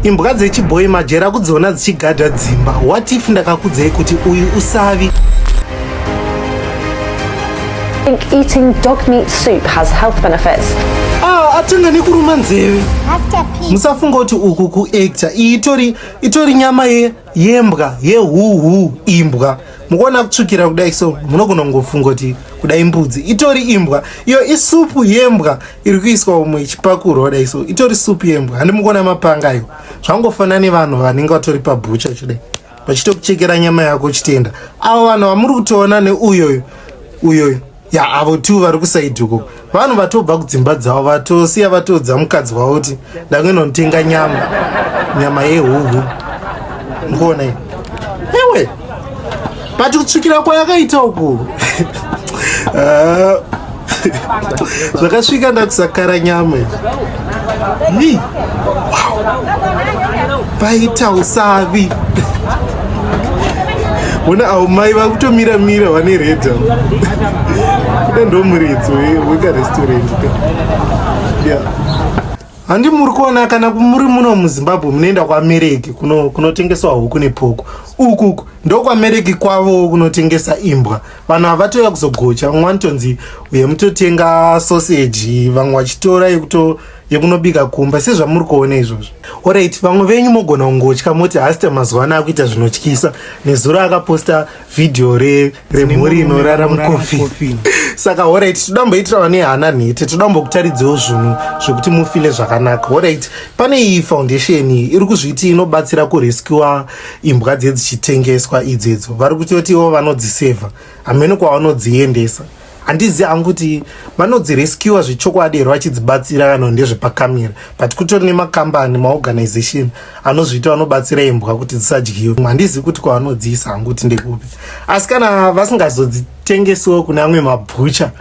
imbwa dzechibhoyi majera kudziona dzichigadha dzimba what if ndakakudzei kuti uyu usavi eating dog meat soup has health benefits ah, atenga nekuruma nzeve musafunga kuti uku kuacta iyi itori nyama yembwa yehuhu imbwa mukuona kutsvukira kudai so munogona kungofunga kuti kudai mbudzi itori imbwa iyo isupu yembwa iri kuiswa umwe ichipakurwa kudai so itori supu yembwa handi mukuona mapanga ayo zvangofanana nevanhu vanenge vatori pabhucha chidai vachitokuchekera nyama yako chitenda avo vanhu vamuri kutoona neuyoyo uyoyo ya avo two vari kusaidi uko vanhu vatobva kudzimba dzavo vatosiya vatoudza mukadzi wavo kuti ndakuenda kunotenga nyama nyama yehuhu mukuona i ewe but kutsvikira kwayakaita uku ah, zvakasvika ndakusakara nyama izvi Ni. Wow. Paita usavi. Ona au mai vakutomira mira vane red. Kuda ndo muritso weka restaurant. Yeah. Handi muri kuona kana muri muno muZimbabwe munoenda kwamereki kunotengeswa kuno huku nepoko. Uku uku ndokwamereki kwavo kunotengesa imbwa. vanhu havatouya kuzogocha vamwe vanotonzi uye mutotenga soseji vamwe vachitora yekuto yekunobika kumba sezvamuri kuona izvozvo orit vamwe venyu mogona kungotya moti hasita mazuva ano akuita zvinotyisa nezuro akaposta vhidhiyo remhuri inorara mukofini saka orit toda mboitira vane hana nhete toda mbokutaridziwo zvinhu zvekuti mufile zvakanaka orit pane iyi foundation iri kuzviti inobatsira kurescua imbwa dziye dzichitengeswa idzo idzo vari kutoti ivo vanodzisevha hameno kwavanodziendesa handizi hangu kuti vanodzirescuwa zvechokwadi here vachidzibatsira kana ndezvepakamira but kutori nemakambani maorganization anozviita vanobatsira imbwa kuti dzisadyiwe handizi kuti kwavanodziisa hangu kuti ndekupi asi kana vasingazodzitengesiwo kune amwe mabhucha